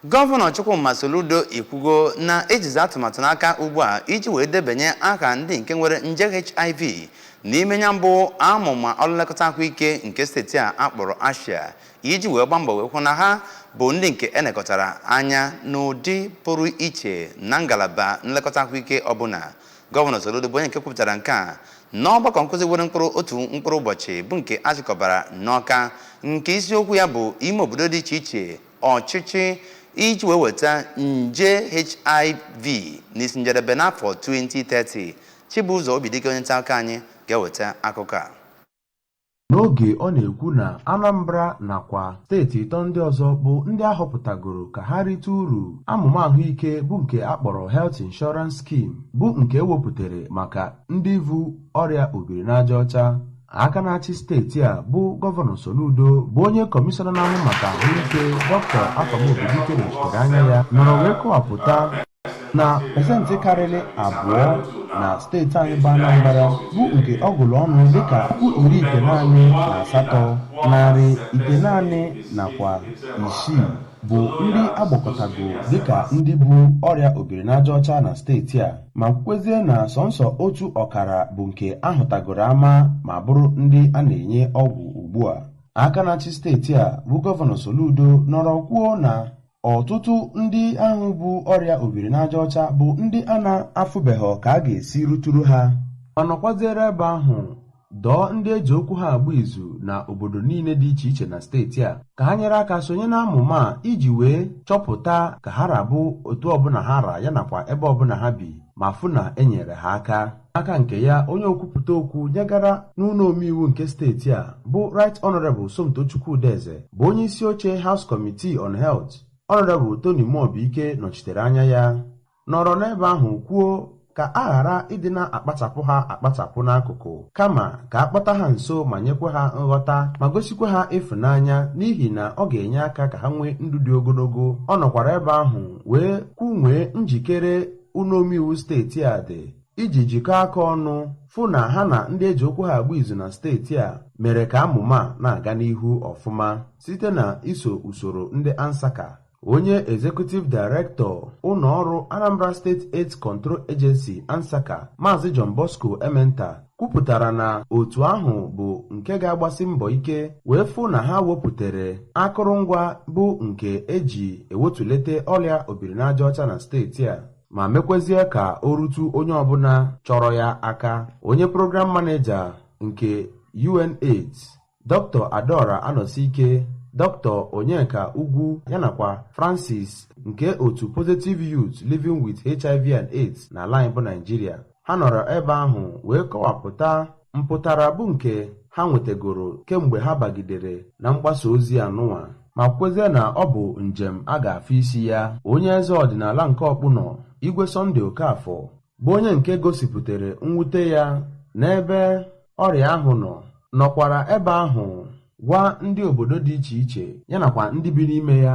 Gọvanọ Chukwuma Soludo ekwugo na ejizi atụmatụ n'aka ugbu a iji wee debanye aha ndị nke nwere nje HIV n'ime ya mbụ amụma ọrụ nlekọta ahụike nke steeti a akpọrọ ASHIA iji wee gbaa mbọ wee hụ na ha bụ ndị nke enekọtara anya n'ụdị pụrụ iche na ngalaba nlekọta ahụike ọbụla gọvanọ Soludo bụ onye nke kwupụtara nke a n'ọgbakọ nkụzi were mkpụrụ otu mkpụrụ ụbọchị bụ nke achịkọbara n'Ọka nke isiokwu ya bụ ime obodo dị iche iche ọchịchị iji wee weta nje hiv n'isi njedebe n'afọ 2030 chibụzọ obidike onye nta akụkọ anyị ga-eweta akụkọ a n'oge ọ na-ekwu na anambra nakwa steeti ịtọ ndị ọzọ bụ ndị ahọpụtagoro ka ha rite uru amụma ahụike bụ nke a kpọrọ health insurance scheme bụ nke ewepụtara maka ndị vu ọrịa obiri n'aja ọcha aka na-achị steeti a bụ gọvanọ Soludo bụ onye kọmishọna na-ahụ maka ahụike Doctor Afam Obidike nọchitere anya ya nọrọ wee kọwapụta na pesentị karịrị abụọ na steeti anyị bụ Anambra bụ nke ọ gụrụ ọnụ dịka puku iri itenaanị na asatọ narị itenaanị nakwa isii bụ ndị agbakọtago dịka ndị bu ọrịa obiri n'aja ọcha na steeti a ma kwukwezie na sọnsọ otu ọkara bụ nke ahụtagoro ama ma bụrụ ndị a na-enye ọgwụ ugbu a aka na-achị steeti a bụ gọvanọ Soludo nọrọ kwuo na ọtụtụ ndị ahụ bu ọrịa obiri n'aja ọcha bụ ndị a na-afụbeghị ka a ga-esi ruturu ha ma nọkwaziere ebe ahụ dọọ ndị eji okwu ha agba izu na obodo niile dị iche iche na steeti a ka ha nyere aka sonye na amụma a iji wee chọpụta ka ha ra bụ otu ọbụla ha ra ya nakwa ebe ọbụla ha bi ma fụ na e nyere ha aka aka nke ya onye okwupụta okwu nyegara n'ụlọ omeiwu nke steeti a bụ Right Honorable Somtochukwu Udeze bụ onye isi oche House Committee on Health Honorable Tony Muobike nọchitere anya ya nọrọ n'ebe ahụ kwuo ka a ghara ịdị na-akpachapụ ha akpachapụ n'akụkụ kama ka a kpọta ha nso ma nyekwa ha nghọta ma gosikwa ha ịfụnanya n'ihi na ọ ga-enye aka ka ha nwee ndụ dị ogologo ọ nọkwara ebe ahụ wee kwunwee njikere ụlọomeiwu steeti a dị iji jikọọ aka ọnụ fụ na ha na ndị eji okwu ha agba izu na steeti a mere ka amụma na-aga n'ihu ọfụma site na iso usoro ndị ANSACA onye executive director ụlọ ọrụ Anambra State AIDS Control Agency ANSACA Maazị John Bosco Ementa kwupụtara na otu ahụ bụ nke ga-agbasi mbọ ike wee fụ na ha wepụtara akụrụngwa bụ nke eji ewetulete ọrịa obiri n'aja ọcha na steeti a ma mekwezie ka o rutu onye ọbụla chọrọ ya aka onye program manager nke UNAIDS Dr Adaora Anọsike, Dr Onyeka Ugwu ya nakwa Francis nke otu Positive Youth Living with HIV and AIDS n'ala anyị bụ Naịjirịa. Ha nọrọ ebe ahụ wee kọwapụta mpụtara bụ nke ha nwetagoro kemgbe ha bagidere na mgbasa ozi anụnwa ma kwezie na ọ bụ njem a ga-afụ isi ya. Onye eze ọdịnala nke Ọkpụnọ, Igwe Sunday Okafor bụ onye nke gosipụtara mwute ya n'ebe ọrịa ahụ nọ nọkwara ebe ahụ gwa ndị obodo dị iche iche ya nakwa ndị bi n'ime ya